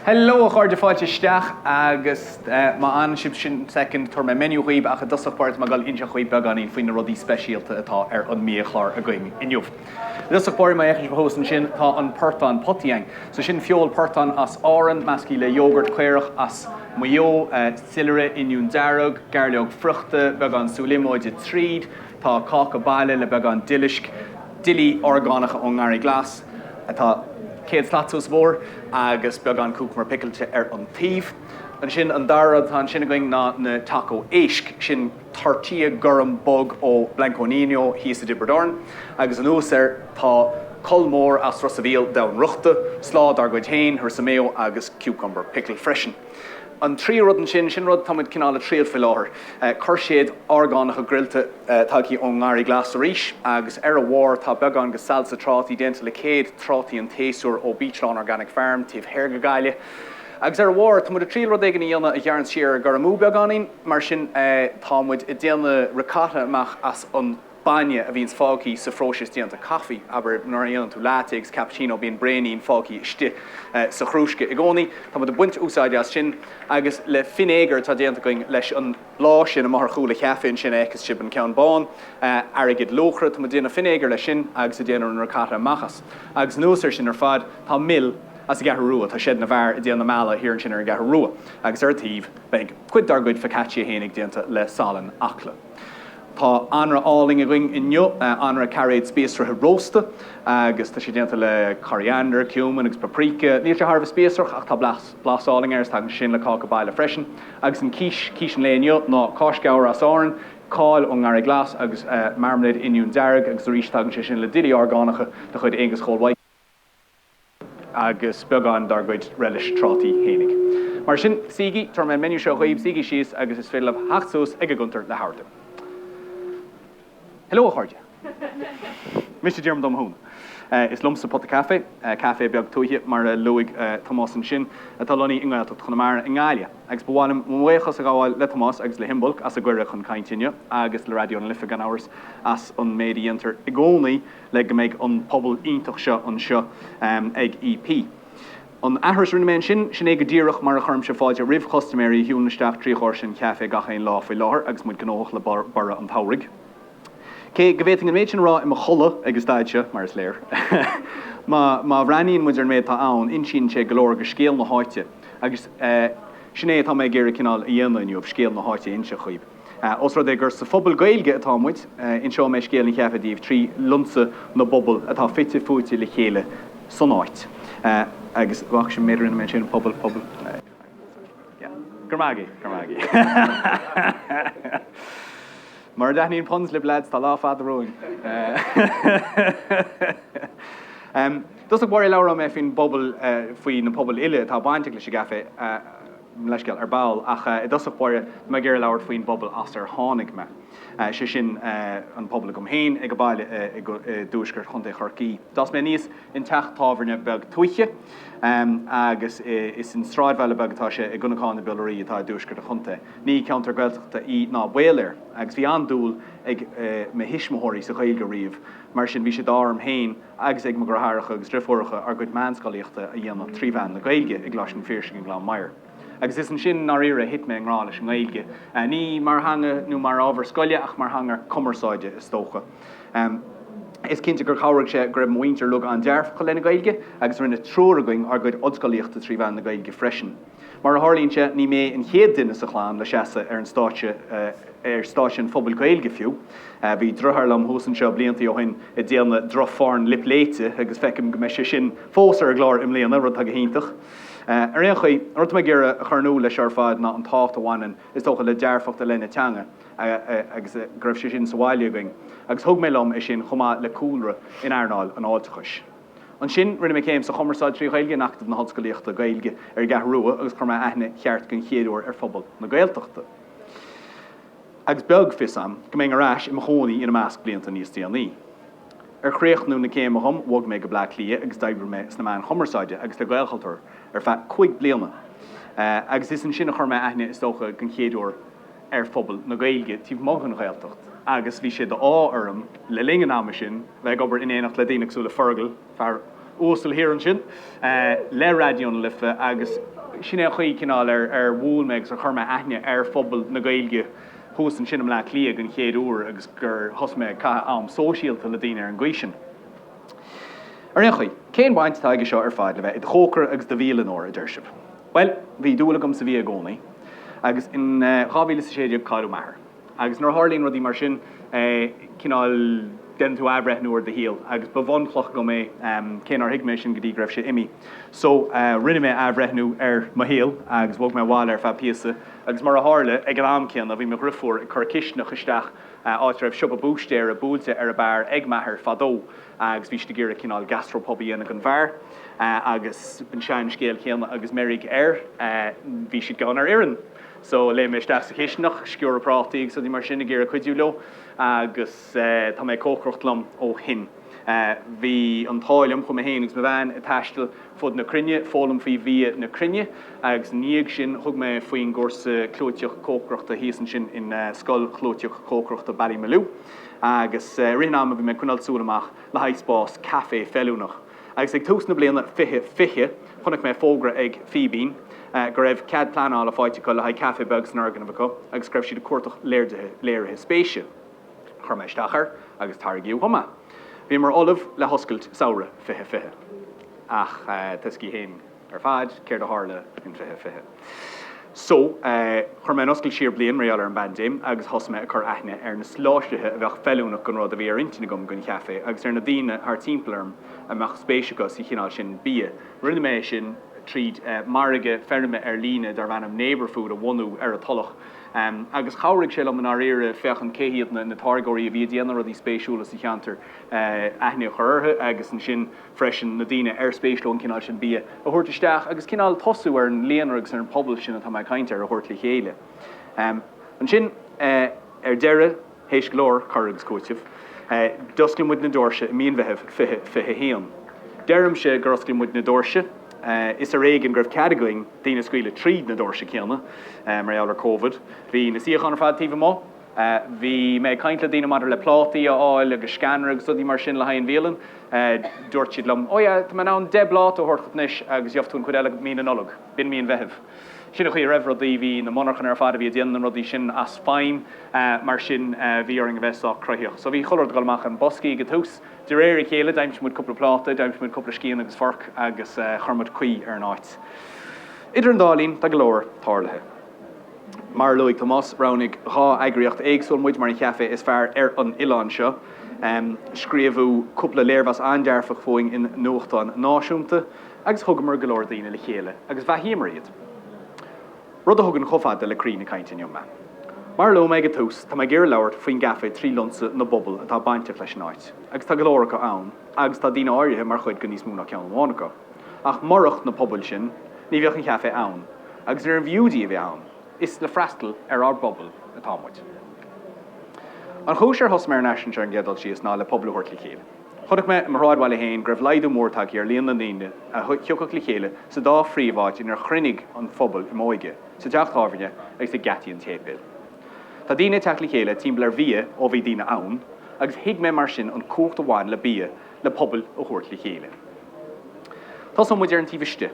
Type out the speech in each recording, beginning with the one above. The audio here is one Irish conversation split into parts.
Hello a chairde, fáilte isteach agus má fhanann sibh ansin soicind tabharfaidh mé menu dhaoibh ach i dtosach báire tá mé ag dul ag inseacht dhaoibh beagáinín faoi na rudaí speisialta atá ar an mbiachlár againn inniu. I dtosach báire má fhéachann sibh thuas ansin tá an portán potaithe againn. So sin feoil portán as Árainn, meascaithe le yoghurt caorach as Maigh Eo, soilire, oinniún dearg, gairleog friochta, beagán sú líomóide tríd, tá cáca baile le beagán duilisc, duillí orgánacha ón nGarraí Glas, atá céad slat suas an bóthar agus beagán cúcamar picilte ar an taobh. Ansin an dara rud atá ansin againn ná na Taco Éisc, sin tortilla gorm bog ó Blanco Niño thíos i dTiobraid Árann agus anuas air tá colmóir as Ros a' Mhíl, domhainfhriochta, slaw dár gcuid féin, harissa mayo agus cucumber pickle freisin. An tríú rud ansin, sin rud atá muid cineál ag triail faoi láthair, cúirséid orgánacha grillte tagtha ón nGarraí Glas arís agus ar a bharr tá beagán de salsa trátaí déanta le céad trátaí an tséasúir ó Beechlawn Organic Farm taobh thoir de Ghaillimh agus ar a bharr tá muid ag triail rud éigin a dhéanamh a ghearrann siar ar an gcur amú beagáinín mar sin tá muid ag déanamh ricotta amach as an bainne a bhíonns fágthaí sa phróiseas déanta caife, abair nuair a dhéanann tú latte agus cappuccino bíonn braonín fágthaí istigh sa chrúsca i gcónaí, tá muid ag baint úsáide as sin agus le finéagar atá déanta againn leis an mbláth sin amach ar chúl an chaife ansin a fheiceas sibh an ceann bán, airgead luachra, tá muid ag déanamh finéagar leis sin agus ag déanamh an ricotta amach as. Agus anuas ar sin ar fad tá mil as an gCeathrú Rua, tá Seid na bhFear ag déanamh na meala thiar ansin ar an gCeathrú Rua agus ar an taobh beidh cuid dár gcuid focaccia fhéinig déanta le salann Acla. Tá anraith álainn againn inniu, anraith cairéad spíosraithe rósta agus tá sé déanta le coriander, cumin agus paprika. Níl sé thar a bheith spíosrach ach tá blas álainn air is tagann sé sin le cáca baile freisin. Agus an quiche, quiche an lae inniu ná cáis ghabhair as Árainn, cál ón nGarraí Glas agus marmalade oinniún dearg agus arís tagann sé sin le duillí orgánacha de chuid Aonghus Chóil Mhaidhc. agus beagán dár gcuid relish trátaí fhéinig. Mar sin, suígí, tabharfaidh mé an menu seo dhaoibh, suígí síos agus is féidir libh theacht suas ag an gcuntar le hordú. Hello a chairde. Mise Diarmuid Ó Mathúna. Is liomsa Pota Café, café beag tuaithe, mar a luaigh Tomás ansin, atá lonnaithe i nGaeltacht Chonamara, i nGaillimh, agus ba mhaith liom mo bhuíochas a ghabháil le Tomás agus le hImbolc as an gcuireadh chun cainte inniu, agus le Raidió na Life, gan amhras, as an méid a dhéantar i gcónaí, le go mbeidh an pobal iontach seo anseo ag EP. An aithris a rinne mé ansin, sin é go díreach mar a chuirimse fáilte roimh chustaiméirí a shiúlann isteach trí dhoirse an chaifé gach aon lá faoi láthair agus muid gnóthach le borradh an tsamhraidh. Cé go bhféadfainn an méid sin a rá i mo chodladh ag an staid seo, mar is léir, má bhreathnaíonn muid ar an méid atá ann, insíonn sé go leor de scéal na háite, agus sin é atá mé ag iarraidh cineál a dhéanamh inniu, scéal na háite a inse dhaoibh. Ós rud é gur sa phobal Gaeilge atá muid, inseoidh mé scéal an chaifé daoibh trí lionsa na bpobal atá fite fuaite le chéile san áit. Agus féach an méid a rinne mé ansin pobal, pobal, yeah. Grma agaibh, grma agaibh. Mura dtaitníonn puns libh, leaids, tá lá fada romhainn. Em, i dtosach báire labhróidh mé faoin bpobal, eh, faoi na pobail uile atá bainteach leis an gcaifé, eh, Mo leithscéal, ar ball, ach i dtosach báire, tá mé ag iarraidh labhairt faoin bpobal as ar tháinig mé, sé sin, an pobal agam féin ag baile i dtuaisceart Chontae Chorcaí. D'fhás mé aníos i dteach tábhairne beag tuaithe, agus is i sráidbhaile beag atá sé, i gConnacáin na bPiolaraí, atá i dtuaisceart an chontae. Ní ceantar Gaeltachta í ná baol air, ach bhí an-dúil ag mo thuismitheoirí sa Ghaeilge riamh, mar sin bhí sé d'ádh orm féin, agus ag mo dheartháireacha agus deirfiúracha ár gcuid meánscolaíochta a dhéanamh trí mheán na Gaeilge i gColáiste an Phiarsaigh i nGleann Maighir. Agus is ansin, i ndáiríre, a thit mé i ngrá leis an nGaeilge, ní mar theanga nó mar ábhar scoile ach mar theanga cumarsáide, is dócha. Is cinnte gur chabhraigh sé go raibh mo mhuintir uilig an-dearfach i leith na Gaeilge agus rinne triúr againn ár gcuid ollscolaíochta trí mheán na Gaeilge freisin. Mar a tharlaíonn sé, ní mé an chéad duine sa chlann le seasamh ar an stáitse, ar stáitse an phobail Gaeilge fiú. Bhí deartháir liom thuas anseo blianta ó shin ag déanamh droch phorn lip léite agus feicim go mbeidh sé sin fós ar an gclár i mbliana, rud atá go hiontach. Ar aon chaoi, an rud atá mé ag iarraidh a chur in iúl leis seo ar fad ná an tábhacht a bhaineann, is dócha, le dearfacht i leith na teanga agus go raibh sé sin sa bhaile againn agus thug mé liom é sin chomh maith le cúlra in earnáil an fháilteachais. Ansin, rinne mé céim sa Chumarsáid trí Ghaeilge in Acadamh na hOllscolaíochta Gaeilge ar an gCeathrú Rua agus chuir mé aithne cheart den chéad uair ar phobal na Gaeltachta agus is beag fios agam go mbeinn ar ais i mo chónaí ina measc blianta níos déanaí. Ar chríochnú na céime dhom, bhog mé go Bleá Cliath agus d'oibrigh mé sna meáin chumarsáide agus le Gaelchultúr ar feadh cúig bliana agus is ansin a chuir mé aithne, is dócha, den chéad uair ar phobal na Gaeilge taobh amuigh den Ghaeltacht agus bhí sé d'ádh orm, le linn an ama sin, bheith ag obair in éineacht le daoine cosúil le Fergal, fear uasal thiar ansin, le Raidió na Life agus sin é an chaoi, cineál, ar bhuail mé agus ar chuir mé aithne ar phobal na Gaeilge thuas ansin i mBleá Cliath den chéad uair agus gur thosaigh mé ag caitheamh am sóisialta le daoine ar an gcaoi sin. Ar aon chaoi, cén bhaint atá aige seo ar fad le bheith i do chócaire agus i do bhialannóir, a deir sibh? Bhuel, bhí dúil agam sa bhia i gcónaí, agus in dhá mhíle is a sé déag cailleadh m'athair, agus nuair a tharlaíonn rudaí mar sin, cineál, déanann tú athbhreithniú ar do shaol, agus ba bhunchloch dhom é, cé nár thuig mé sin go dtí go raibh sé imí. So, rinne mé athbhreithniú ar mo shaol, agus bhog mé abhaile ar feadh píosa, agus mar a tharla, ag an am céanna, bhí mo dhriofúr ag cur cistineach isteach, áit a raibh siopa búistéara buailte ar an mbeár ag m'athair fadó, agus bhí siad ag iarraidh cineál gastropub a dhéanamh den bheár agus an seanscéal céanna agus meirg air, bhí siad gann ar fhoireann so léim mé isteach sa chistineach, sciúradh prátaí agus rudaí mar sin ag iarraidh cuidiú leo agus tá mé ag cócaireacht liom ó shin. Bhí an t-ádh liom, chuaigh mé féin agus mo bhean ag taisteal fud na cruinne, foghlaim faoi bhia na cruinne agus ina dhiaidh sin thug mé faoin gcúrsa clúiteach cócaireachta thíos ansin in Scoil Chlúiteach Cócaireachta Ballymaloe. agus i rith an ama bhí mé ag coinneáil súil amach le haghaidh spás caife feiliúnach, agus ag tús na bliana 2020, chonaic mé fógra ag Fíbín go raibh cead pleanála faighte acu le haghaidh caife beag san fhoirgneamh acu agus go raibh siad ag cuartach léirithe spéise. Chuir mé isteach air agus tairgeadh dhom é. Bhíomar ullamh le hoscailt samhradh 2020, ach tá a fhios ag chuile dhuine againn. ar fad céard a tharla in 2020. So, chuir mé an oscailt siar bliain mar gheall ar an bpaindéim agus thosaigh mé ag cur aithne ar na soláthraithe a bheadh feiliúnach don rud a bhí ar intinn agam don chaifé agus ar na daoine thart timpeall orm a mbeadh spéis acu sa chineál sin bia. Rinne mé sin tríd margadh feirme ar líne darb ainm Neighbourfood a bhunú ar an Tulach agus chabhraigh sé liom i ndáiríre féachaint cé hiad na táirgeoirí a bhí ag déanamh rudaí spéisiúla sa cheantar, aithne a chur orthu agus ansin. freisin, na daoine ar spéis leo an cineál sin bia a thabhairt isteach agus cineál tosú ar an líonra agus ar an phobal sin atá mé ag caint air a thabhairt le chéile. Ansin, ar deireadh, théis go leor cur agus cúitimh, d'oscail muid na doirse i mí an Mheithimh 2021. Deirimse gur oscail muid na doirse, is ar éigean go raibh cead againn daoine a scaoileadh tríd na doirse céanna mar gheall ar Covid. Bhí na suíocháin ar fad taobh amuigh. Bhí mé ag caint le daoine maidir le plátaí a fháil agus sceanra agus rudaí mar sin le haghaidh an bhialann. Dúirt siad liom, 'Ó yeah, tá mé in ann deich bpláta a thabhairt chugat anois agus gheobhaidh tú an chuid eile mí na Nollag. B'in mí an Mheithimh. Sin an chaoi a raibh rudaí. Bhí na monarchana ar fad a bhí ag déanamh na rudaí sin as feidhm, mar sin bhí orainn a bheith sách cruthaitheach. So bhí chuile rud ag dul amach i mboscaí ag an tús. De réir a chéile d'aimsigh muid cúpla pláta, d'aimsigh muid cúpla scian agus forc agus chuir muid caoi ar an áit. Idir an dá linn, tá go leor tarlaithe. Mar a luaigh Tomás, roghnaigh dhá eagraíocht éagsúil muid mar an chaifé is fearr ar an oileán seo. Scríobhadh cúpla léirmheas an-dearfach fúinn i nuachtáin náisiúnta agus thugamar go leor daoine le chéile agus bheathaíomar iad. Rud a thugann chomh fada le croí na cainte inniu mé. Mar a luaigh mé ag an tús, tá mé ag iarraidh labhairt faoin gcaifé trí lionsa na bpobal atá bainteach leis an áit, agus tá go leor acu ann agus tá daoine áirithe mar chuid de níos mó ná ceann amháin acu. Ach murach na pobail sin, ní bheadh an caifé ann, agus níorbh fhiú di a bheith ann, is le freastal ar ár bpobal atá muid. An chúis ar thosaigh mé ar an eisiúint ar an gcéad dul síos ná le pobail a thabhairt le chéile. Chonaic mé, i mo shráidbhaile féin, go raibh laghdú mór tagtha ar líon na ndaoine a thiocfadh le chéile sa dá phríomháit inar chruinnigh an phobal i m'óige, sa teach tábhairne agus ag geataí an tséipéil. Tá daoine ag teacht le chéile timpeall ar bhia ó bhí daoine ann, agus thuig mé mar sin an cumhacht a bhain le bia, le pobail a thabhairt le chéile. Tosóidh muid ar an taobh istigh.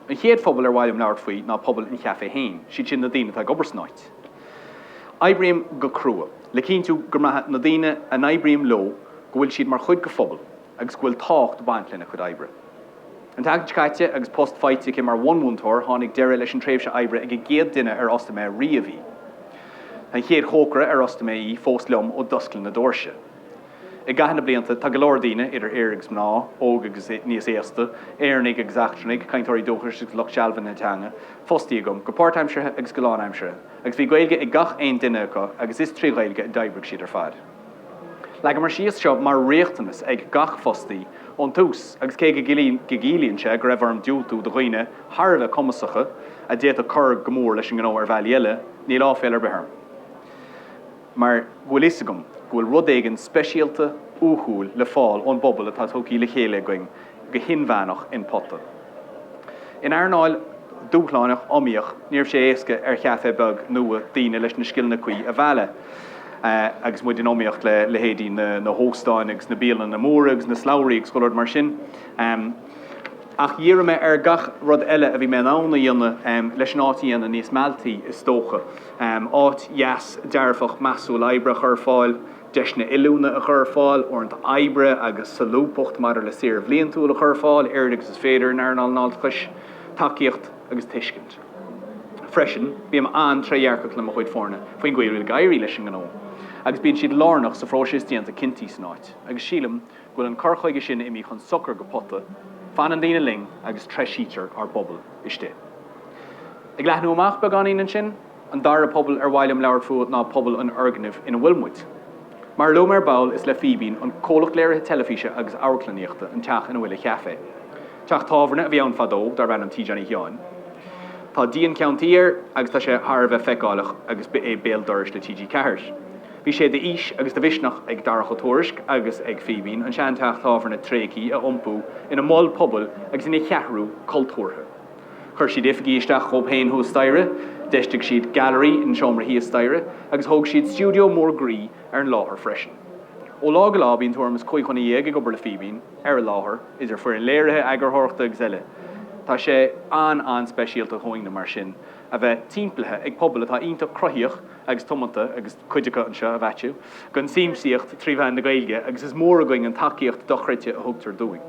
An chéad phobal ar mhaith liom labhairt faoi ná pobal an chaifé féin, siad sin na daoine atá ag obair san áit. Oibrím go crua le cinntiú go mbraitheann na daoine a n-oibrím leo go bhfuil siad mar chuid de phobal agus go bhfuil tábhacht ag baint lena gcuid oibre. An tseachtain seo caite agus post faighte aici mar bhunmhúinteoir tháinig deireadh leis an tréimhse oibre ag an gcéad duine ar fhostaigh mé riamh í. Tá an chéad chócaire ar fhostaigh mé í fós liom ó d'oscail na doirse. I gcaitheamh na blianta, tá go leor daoine, idir fhir agus mná, óg agus níos aosta, Éireannaigh agus eachtrannaigh, cainteoirí dúchais agus lucht sealbhaithe na teanga, fostaithe agam, go páirtaimseartha agus go lánaimseartha, agus bhí Gaeilge ag gach aon duine acu agus is trí Ghaeilge a d'oibrigh siad ar fad. Leagamar síos seo mar riachtanas ag gach fostaí ón tús agus cé go gciallaíonn sé go raibh orm diúltú do dhaoine thar a bheith cumasacha a d'fhéadfadh cur go mór leis an ngnó ar bhealaí eile, níl aiféal ar bith orm. mar go bhfuil a fhios agam go bhfuil rud éigin speisialta, uathúil le fáil ón bpobal atá tugthaí le chéile againn go hinmheánach in POTA. In earnáil dúshlánach iomaíoch, ní raibh sé éasca ar chaifé beag nua daoine leis na scileanna cuí a mhealladh agus muid in iomaíocht le leithéidí na hóstáin agus na bialanna móra agus na slabhraí agus go leor mar sin. Ach dhírigh mé ar gach rud eile a bhí mé in ann a dhéanamh leis an áit a dhéanamh níos mealltaí is dócha. áit dheas dearfach measúil oibre a chur ar fáil, deiseanna oiliúna a chur ar fáil, uaireanta oibre agus solúbthacht maidir le saoire bhliantúil a chur ar fáil, oiread agus is féidir, in earnáil an fháilteachais, tacaíocht agus tuiscint. Freisin, bím an-trédhearcach le mo chuid foirne faoin gcaoi a bhfuil ag éirí leis an ngnó agus bíonn siad lárnach sa phróiseas déanta cinntí san áit agus sílim, bhfuil an cur chuige sin imithe chun sochair do POTA, fanann daoine linn agus treisítear ár bpobal istigh. Ag leathnú amach beagáinín ansin, an dara pobal ar mhaith liom labhairt fúthu ná pobal an fhoirgnimh ina bhfuil muid. Mar a luaigh mé ar ball, is le Fíbín, an comhlacht léirithe teilifíse agus amharclannaíochta, an teach ina bhfuil an caifé. Teach tábhairne a bhí ann fadó darb ainm Tigh Johnny Sheáin. Tá díon ceann tuí air agus tá sé thar a bheith feiceáileach agus ba é béal dorais le TG4. Bhí sé de fhís agus de mhisneach ag Darach Ó Tuairisc agus ag Fíbín an seanteach tábhairne tréigthe a iompú ina mol pobail agus ina cheathrú cultúrtha. Chuir siad oifigí isteach dóibh féin thuas staighre, d'fheistigh siad gailearaí in seomra thíos staighre agus thóg siad stiúideo mór groí ar an láthair freisin. Ó lá go lá bíonn tuairim is cúig dhuine dhéag ag obair le Fíbín ar an láthair, idir foireann léirithe, eagarthóireachta agus eile. Tá sé an-an-speisialta dhúinne mar sin a bheith timpeallaithe ag pobal atá iontach cruthaíoch, agus tiomanta, agus cuid acu anseo, a Mhaitiú, don tsiamsaíocht trí mheán na Gaeilge, agus is mór againn an tacaíocht dochreidte a thugtar dúinn.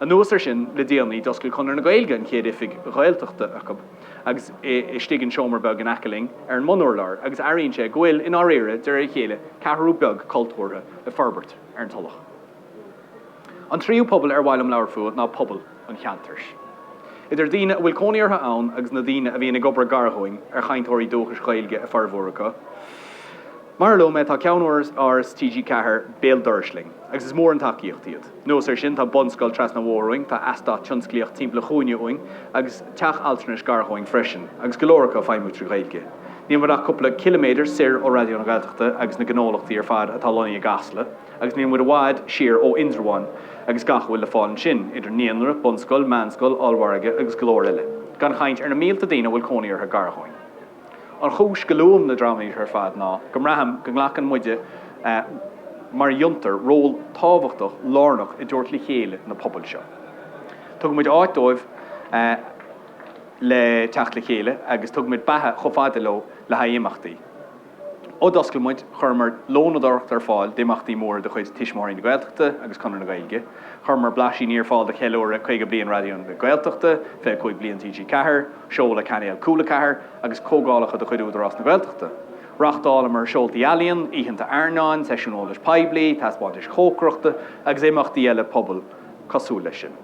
Anuas air sin, le déanaí, d'oscail Conradh na Gaeilge an chéad oifig Ghaeltachta acu, agus é istigh in seomra beag in aice linn, ar an mbunurlár, agus airíonn sé go bhfuil, i ndáiríre, de réir a chéile, ceathrú beag cultúrtha le forbairt ar an Tulach. An tríú pobal ar mhaith liom labhairt fúthu ná pobal an cheantair. Idir daoine a bhfuil cónaí orthu ann agus na daoine a bhíonn ag obair gar dhúinn, ar chainteoirí dúchais Gaeilge an formhór acu. Mar a luaigh mé, tá ceannáras TG Ceathair béal dorais linn, agus is mór an tacaíocht iad. Anuas air sin, tá bunscoil trasna an bhóthair uainn, tá eastát tionsclaíoch timpeall an chúinne uainn, agus teach altranais gar dhúinn freisin, agus go leor acu ag feidhmiú trí Ghaeilge. Níl muid ach cúpla ciliméadar soir ó Raidió na Gaeltachta agus na gnólachtaí ar fad atá lonnaithe i gCasla. agus níl muid i bhfad siar ó Indreabhán agus gach a bhfuil le fáil ansin, idir naíonra, bunscoil, meánscoil, ollmhargadh agus go leor eile, gan chaint ar na mílte daoine a bhfuil cónaí orthu gar dhúinn. An chúis go luaim na dreamanna seo ar fad ná go mbraithim go nglacann muide mar fhiontar ról tábhachtach lárnach i dtabhairt le chéile na pobail seo. Tugann muid áit dóibh le teacht le chéile agus tugann muid beatha chomh fada leo le haghaidh imeachtaí. Ó d'oscail muid, chuireamar lónadóireacht ar fáil d'imeachtaí móra de chuid Tuismitheoirí na Gaeltachta agus Conradh na Gaeilge. Chuireamar blaisíní ar fáil do cheiliúradh 50 bliain Raidió na Gaeltachta, 25 bliain TG4, seoladh Cainéal Cúla Ceathair agus comhdhálacha de chuid Údarás na Gaeltachta. Reáchtálamar seoltaí ealaíon, oícheanta airneáin, seisiúin eolais poiblí, taispeántais chócaireachta agus imeachtaí eile pobail cosúil leis sin.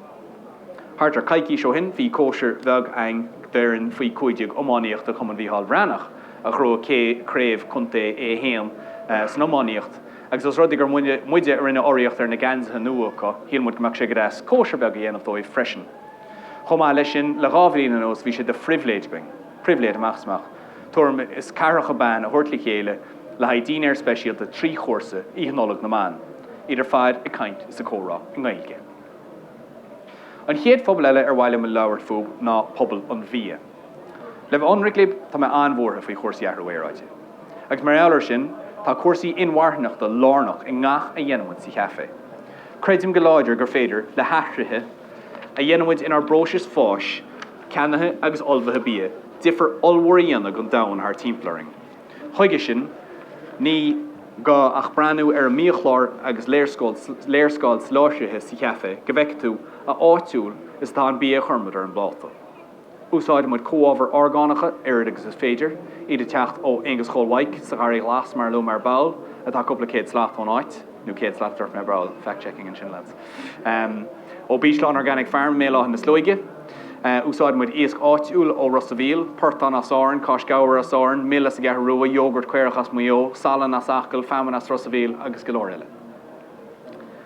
Thart ar coicís ó shin bhí cóisir bheag againn d'fhoireann faoi 15 iománaíochta Chumann Mhícheál Bhreathnach a ghnóthaigh craobh contae A1 san iománaíocht agus os rud é gur muide a rinne urraíocht ar na geansaithe nua acu shíl muid go mbeadh sé go deas cóisir bheag a dhéanamh dóibh freisin. Chomh maith leis sin le dhá bhliain anuas bhí sé de phribhléid againn, pribhléid amach is amach, tuairim is ceathracha ban a thabhairt le chéile le haghaidh dinnéar speisialta trí chúrsa Oíche Nollag na mBan, iad ar fad ag caint is ag comhrá i nGaeilge. An chéad phobal eile ar mhaith liom a labhairt fúthu ná pobal an bhia. Le bheith ionraic libh, tá mé an-bhuartha faoi chúrsaí athrú aeráide. Agus mar gheall air sin, tá cúrsaí inmharthanachta lárnach i ngach a dhéanaimid sa Chafé. Creidim go láidir gur féidir le hathruithe a dhéanaimid inár bpróisis fáis, ceannaithe agus ullmhaithe bia difear ollmhór a dhéanamh don domhan thart timpeall orainn. Chuige sin, ní gá ach breathnú ar an mbiachlár agus léarscáil soláthraithe sa chaifé go bhfeice tú a áitiúil is atá an bia a chuirimid ar an bpláta. Úsáideann muid comhábhair orgánacha oiread agus is féidir, iad ag teacht ó Aonghus Chóil Mhaidhc sa Gharraí Ghlas mar a luamar ar ball, atá cúpla céad slat ón áit. nó céad slat a dúirt mé ar ball, fact checking ansin lads. Ó Beechlawn Organic Farm i mBéal Átha na Sluaighe. Úsáideann muid iasc áitiúil ó Ros a' Mhíl, portán as Árainn, cáis ghabhair as Árainn, mil as an gCeathrú Rua, yogurt caorach as Maigh Eo, salann as Acaill, feamainn as Ros a' Mhíl agus go leor eile.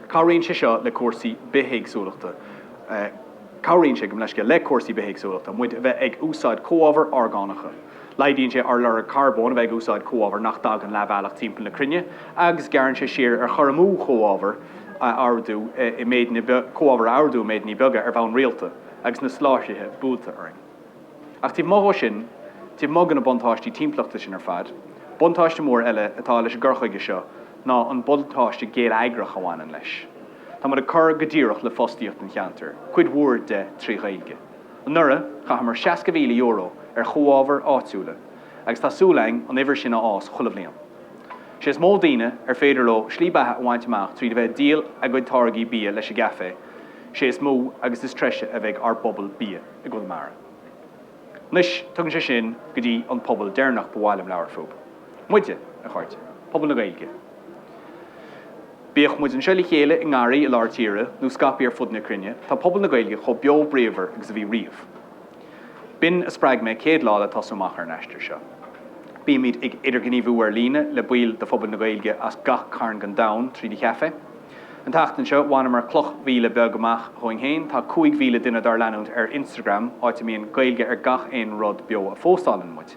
Cabhraíonn sé seo le cúrsaí bithéagsúlachta, cabhraíonn sé, gabh mo leithscéal, le cúrsaí bithéagsúlachta muid a bheith ag úsáid comhábhair orgánacha. Laghdaíonn sé ár lorg carbóin a bheith ag úsáid comhábhar nach dtagann leathbhealach timpeall na cruinne agus gearrann sé siar ar chur amú chomhábhar a ordú i méid, comhábhar a ordú i méideanna beaga ar bhonn rialta agus na soláthraithe buailte orainn. Ach taobh amuigh dhó sin, taobh amuigh de na buntáistí timpeallachta sin ar fad, buntáiste mór eile atá leis an gcur chuige seo ná an buntáiste geilleagrach a bhaineann leis. Tá muid ag cur go díreach le fostaíocht an cheantair, cuid mhór de trí Ghaeilge. Anuraidh, chaitheamar €60,000 ar chomhábhair áitiúla agus tá súil againn an uimhir sin a fhás chuile bhliain. Sé is mó daoine ar féidir leo slí beatha a bhaint amach trí bheith ag díol a gcuid táirgí bia leis an gcaifé, sé is mó agus is treise a bheidh ár bpobal bia i gConamara. Anois, tugann sé sin go dtí an pobal deireanach ba mhaith liom labhairt fúthu. Muide, a chairde. Pobal na Gaeilge. Bíodh muid anseo le chéile i ngarraí i lár tíre nó scaipthe ar fud na cruinne, tá pobal na Gaeilge chomh beo bríomhar agus a bhí riamh. B'in a spreag mé céad lá le tosú amach ar an aistear seo. Bímid ag idirghníomhú ar líne le baill de phobal na Gaeilge as gach cearn den domhan tríd an chaifé. An tseachtain seo, bhaineamar cloch mhíle beag amach dhúinn féin, tá 5,000 duine dár leanúint ar Instagram, áit a mbíonn Gaeilge ar gach aon rud beo a phóstálann muid.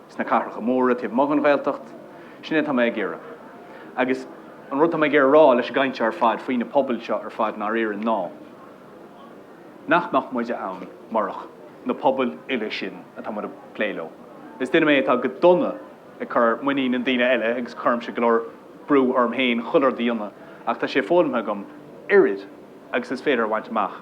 sna cathracha móra taobh amuigh den Ghaeltacht, sin é atá mé ag iarraidh. Agus an rud atá mé ag iarraidh a rá leis an gcaint ar fad faoi na pobail seo ar fad i ndáiríre ná nach mbeadh muide ann murach na pobail uile sin atá muid ag plé leo. Is duine mé atá go dona ag cur muinín i ndaoine eile agus cuirimse go leor brú orm féin chuile rud a dhéanamh ach tá sé foghlamtha agam oiread agus is féidir a bhaint amach.